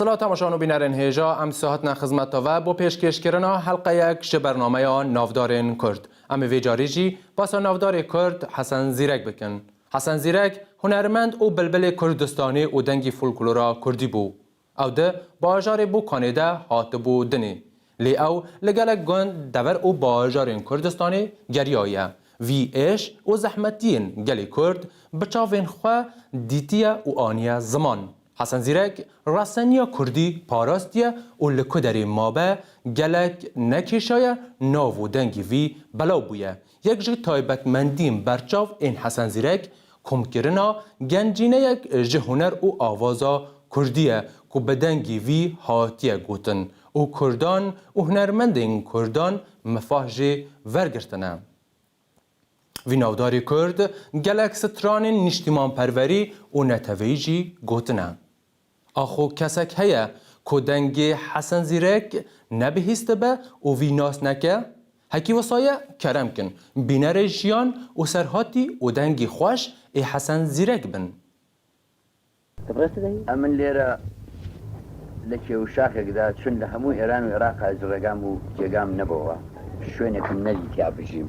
Sila temaşan û bînerên hêja em disa hatina xizmeta ve bo pêşkêşkirina helqeyek ji bernameya navdarên Kurd. Em ê vê carî jî basa navdarê Kurd Hesen Zîrek bikin. Hesen Zîrek hunermend û bilbilê Kurdistanê û dengî folklora Kurdî bû. Ew di bajarê Bokanê de hatibû dinê. Lê ew li gelek gund, dever û bajarên Kurdistanê geriyaye. Vî êş û zehmetiyên gelê Kurd bi çavên xwe dîtiye û aniye ziman. Hesen Zîrek raseniya Kurdî parastiye û li ku derê mabe gelek nekêşaye nav û dengê vî belav bûye. Yek ji taybetmendiyên berçav ên Hesen Zîrek, komkirina gencîneyek ji huner û avaza kurdî ye ku bi dengî vî hatiye gotin û kurdan û hunermendên kurdan mifah jê vergirtine. Vî navdarî kurd gelek stranên nîştîmanperwerî û neteweyî jî gotine. Axo kesek heye ku dengê Hesen Zîrek nebihîstibe û vî nas neke? Hekî wisa ye kerem kin bînerê Jiyan û Serhatî û dengê xweş ê Hesen Zîrek bin. Em in lêre li kêwşaxek de çin li hemû Êran û Îraqa ji regam û cêgam nebowa şwênek in nedîtiya bijîm.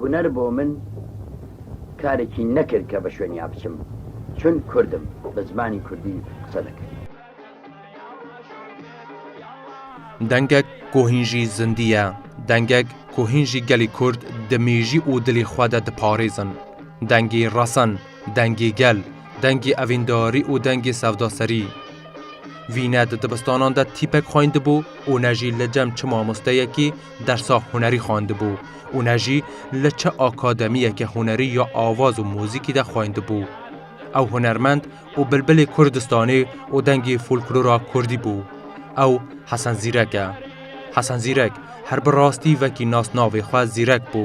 Huner bo min karekî nekir ke bi şweniya biçim çun kurd im bi zimanî kurdî qise dikim. Dengek ku hîn jî zindî ye, dengek ku hîn jî gelê kurd di mêjî û dilê xwe de diparêzin. Dengê resen, dengê gel, dengê evîndarî û dengê sevdaserî. Vî ne di dibistanan de tîpek xwendibû û ne jî li cem çi mamosteyekî Dersa hunerî xwendibû û ne jî li çi akademiyeke hunerî ya awaz û muzîkî de xwendibû. Ew hunermend û bilbilê Kurdistanê û dengê folklora Kurdî bû. Ew Hesen Zîrek e. Hesen Zîrek her bi rastî vekî nasnavê xwe Zîrek bû.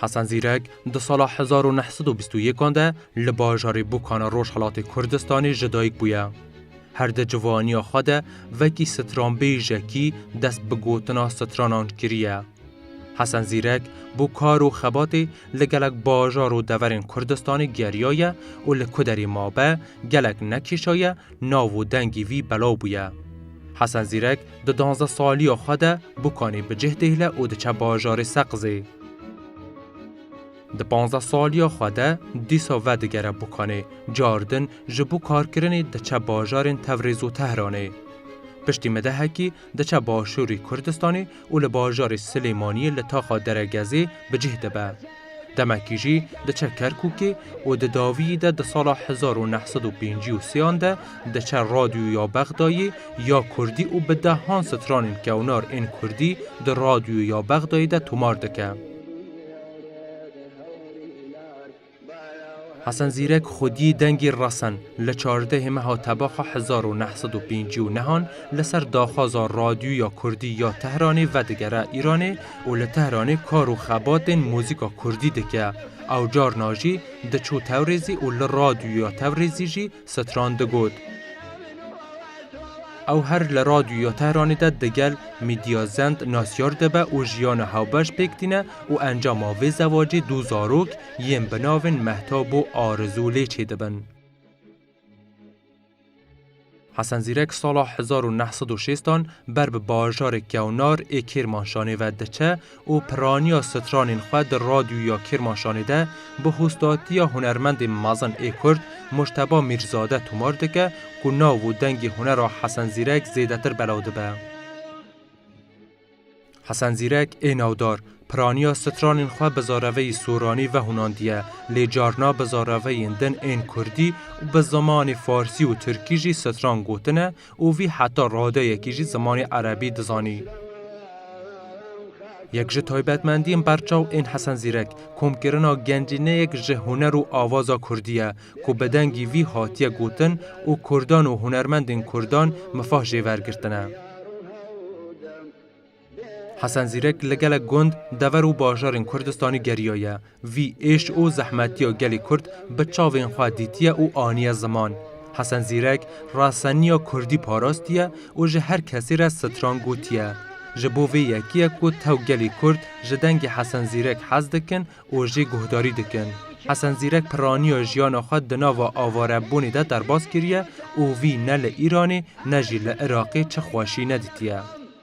Hesen Zîrek di sala hezar û neh sed û bîst û yekan de li bajarê Bûkana Rojhilatê Kurdistanê ji dayik bûye. Her di civaniya xwe de vekî stranbêjekî dest bi gotina stranan kiriye. Hesen Zîrek bo kar û xebatê li gelek bajar û deverên Kurdistanê geriyaye û li ku derê mabe gelek nekêşaye nav û dengî vî belaw bûye. Hesen Zîrek di danzdeh saliya xwe de bûkanê bi cih dêhle û diçe bajarê Seqizê. Di panzdeh saliya xwe de dîsa vedigere bûkanê, car din ji bo karkirinê diçe bajarên Tewrêz û Tehranê. Piştî midehekî diçe başûrê Kurdistanê û li bajarê Silêmaniyê li taxa Deregezê bi cih dibe. Demekî jî diçe Kerkûkê û di dawiyî de di sala hezar û neh sed û pêncî û sêyan de diçe Radyoyê ya Bexdayê ya Kurdî û bi dehan stranên kewnar ên Kurdî di Radyoyê ya Bexdayê de tomar dike. Hesen Zîrek xwedî dengê resen li çardehê meha tebaxa hezar û neh sed û pêncî û nehan li ser daxwaza Radyoya Kurdî ya Tehranê vedigere Îranê û li Tehranê kar û xebatên muzîka Kurdî dike. Ew carna jî diçû Tewrêzî û li Radyoya Tewrêzî jî Setran digot, Ew her li Radyoya Tehranê de digel Mîdya Zend nasyar dibe û jiyana hewbeş pêk tîne û encama vê zewacê du zarok yên bi navên Mehtap û Arizû lê çêdibin. Hesen Zîrek sala hezar û neh sed û şêst an ber bi bajarê Kewnar ê Kêrmanşanê ve diçe û piraniya stranên xwe di Radyoya Kêrmaşanê de bi hostatiya hunermendên mezin ê Kurd Mujteba Mîrzade tomar dike ku nav û dengê hunera Hesen Zîrek zêdetir belav dibe. Hesen Zîrek ê navdar, piraniya stranên xwe bi zareveyî soranî vehûnandiye, lê carna bi zareveyên din ên Kurdî û bi zimanê Farsî û Tirkî jî stran gotine Û vî heta radeyekî jî zimanê erebî dizanî. Yek ji taybetmendiyên berçaw ên Hesen Zîrek, komkirina gencîneyek ji huner û avaza kurdî ye ku bi dengî vî hatiye gotin û kurdan û hunermendên kurdan mifah jê vergirtine. Hesen Zîrek li gelek gund, dever û bajarên Kurdistanê geriyaye. Vî êş û zehmetiya gelê Kurd bi çavên xwe dîtiye û aniye ziman. Hesen Zîrek raseniya Kurdî parastiye û ji her kesî re stran gotiye. Ji bo vê yekiyek ku tew gelê Kurd ji dengê Hesen Zîrek hez dikin û jê guhdarî dikin. Hesen Zîrek piraniya jiyana xwe di nava avarebûnê de derbas kiriye û vî ne li Îranê ne jî li Iraqê çi xweşî nedîtiye.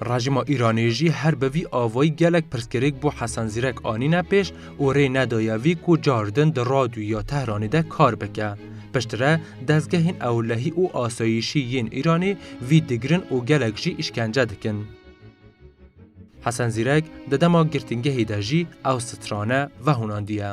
Rejîma Îranê jî her bi vî avayî gelek pirsgirêk bo Hesen Zîrek anîne pêş û rê nedaye vî ku car din di radyoyê ya Tehranê de kar bike. Piştre dezgehên ewlehî û asayîşî yên Îranê vî digirin û gelek jî îşkence dikin. Hesen Zîrek di dema girtingehê de jî ew strane vehûnandiye.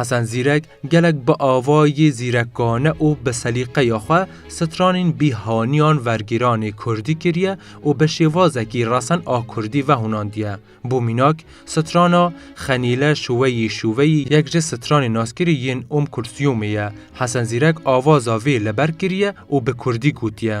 Hesen Zîrek gelek bi avayê zîrekane û bi selîqeya xwe stranên bîhaniyan vergêranê kurdî kiriye û bi şêwazekî resen a kurdî vehûnandiye. Bo mînak, strana Xenîle şûweyî şûveyî yek ji stranên naskirî yên Ûm Kulsîûmê ye. Hesen Zîrek avaza vê li ber kiriye û bi kurdî gotiye.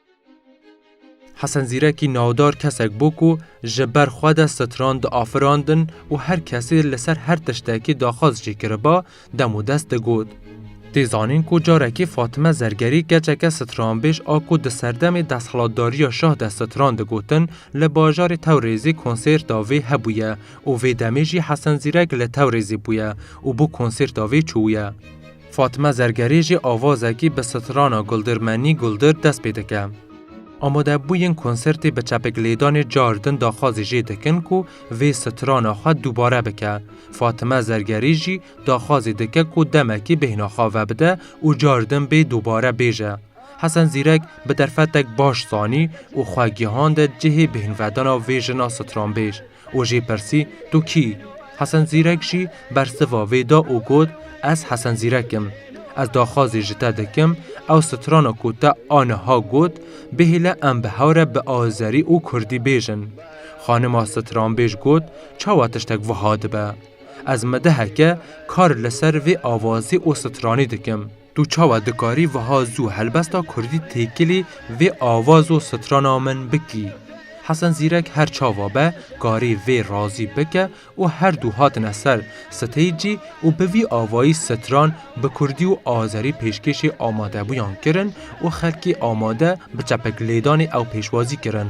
Hesen Zîrekî navdar kesek bû ku ji ber xwe de stran diafirandin û her kesê li ser her tiştekî daxwaz jî kiriba, dem û dest digot. Tê zanîn ku carekê Fatime Zergerî keçeke stranbêj a ku di serdemê desthilatdariya şah de stran digotin li bajarê Tewrêzê konsêrta vê hebûye û vê demê jî Hesen Zîrek li Tewrêzê bûye û bo konsêrta vê çûye. Fatime Zergerî jî avazekî bi strana Guldir Menî Guldir dest pê dike. Amadebûyên konsertê bi çepikilêdanê car din daxwazî jê dikin ku vê strana xwe dubare bike. Fatime Zergerî jî daxwazî dike ku demekî bêhna xwe vebide û car din bê dubare bêje. Hesen Zîrek bi derfetek baş zanî û xwe gihande cihê bêhnvedana vê jina stranbêj. û jê pirsî Tu kî yî? Hesen Zîrek jî bersiva vê da û got, Ez Hesen Zîrek im. Ez daxwazî ji te dikim ew strana ku te aniha got bihêle em bi hew re bi azerî û kurdî bêjin. Xanima stranbêj got, Çawa tiştek wiha dibe? Ez mi diheke kar li ser vê avazî û stranî dikim. Tu çawa dikarî wiha zû helbesta kurdî têkilî vê avaz û strana min bikî? Hesen Zîrek her çawa be karî vê razî bike û her du hatine ser steycî û bi vî avayî stran bi kurdî û azerî pêşkêşê amadebûyan kirin û xelkê amade bi çepek lêdanê ew pêşwazî kirin.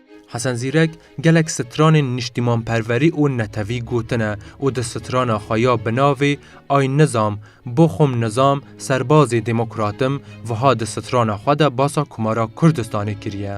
Hesen Zîrek gelek stranên niştîmanperwerî û netewî gotine û di strana xwe ya bi navê Ay Nizam, bo xwim nizam, serbazê demokrat im wiha di strana xwe de basa Komara Kurdistanê kiriye.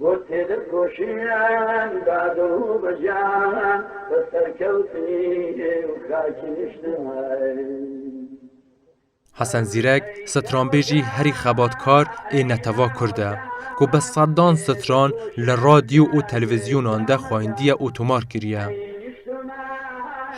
Bo têkoşînên dad û bejan bi serkewtî û xakî niştin. Hesen Zîrek stranbêjî herî xebatkar ê netew'a kurd e ku bi sedan stran li radyo û televîzyonan de xwendîye û tomar kiriye.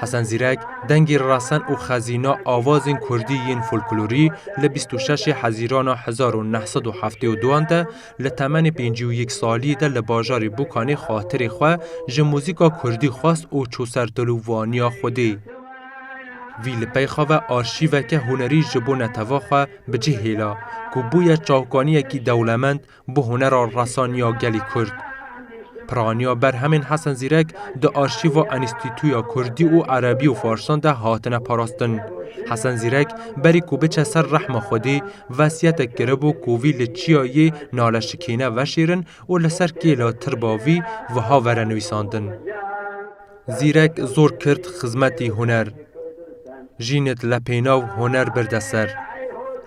Hesen Zîrek dengê resen û xezîna awazên kurdî yên folklorî li bîst û şeş ê hezîrana hezar û neh sed û heftê û duan de Li temenê pêncî û yek saliyê de li bajarê Bokanê xatirê xwe ji muzîka kurdî xwest û çû ser dil û vaniya Xwedê. Vî li peyxa ve arşîveke hunerî ji bo neteva xwe bi cih hêla ku bûye çavkaniyekî dewlemend bo hunera resan ya gelê Kurd. Piraniya berhemên Hesen Zîrek di arşîva Enstîtuya Kurdî û Erebî û Farsan de hatine parastin. Hesen Zîrek berî ku biçe ser rehma Xwedê Vesiyetek kiribû ku vî li çiya yê nale şikîne veşêrin û li ser kêla tirba vî wiha vere nivîsandin, Zîrek zor kirt xizmetî huner, jînit le pênav huner birde ser.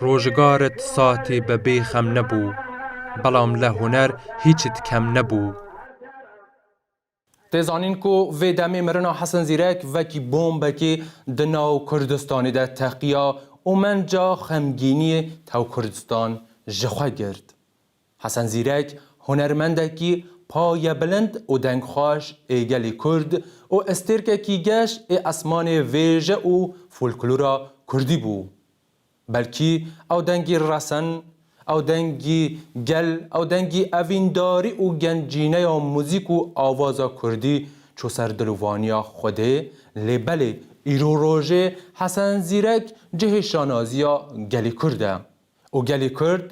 Rojgarit saetî bi bê xem nebû, belam le huner hîçit kem nebû. Tê zanîn ku vê demê mirina Hesen Zîrek vekî bombekê di nav Kurdistanê de teqiya û menca xemgîniyê tew Kurdistan ji xwe girt. Hesen Zîrek hunermendekî payebilind û dengxweş ê gelê Kurd û estêrkekî geş ê esmanê vêje û folklora Kurdî bû. Belkî ew dengî resen, ew dengî gel, ew dengî evîndarî û gencîneya muzîk û avaza kurdî çû ser dil û vaniya Xwedê, lê belê îro rojê Hesen Zîrek cihê şanaziya gelî kurd e. Û gelî kurd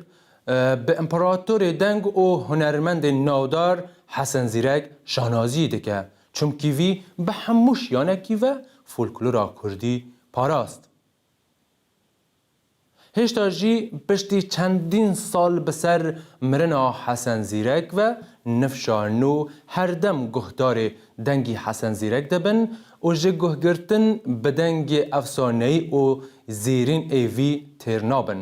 bi împeratorê deng û hunermendê navdar Hesen Zîrek şanaziyê dike, çimkî vî bi hemû şiyanekî ve folklora kurdî parast. Hêşta jî piştî çendîn sal bi ser mirina Hesen Zîrek ve nifşa nû herdem guhdarê dengî Hesen Zîrek dibin û ji guhgirtin bi dengê efsaneyî û zêrîn ê vî têr nabin.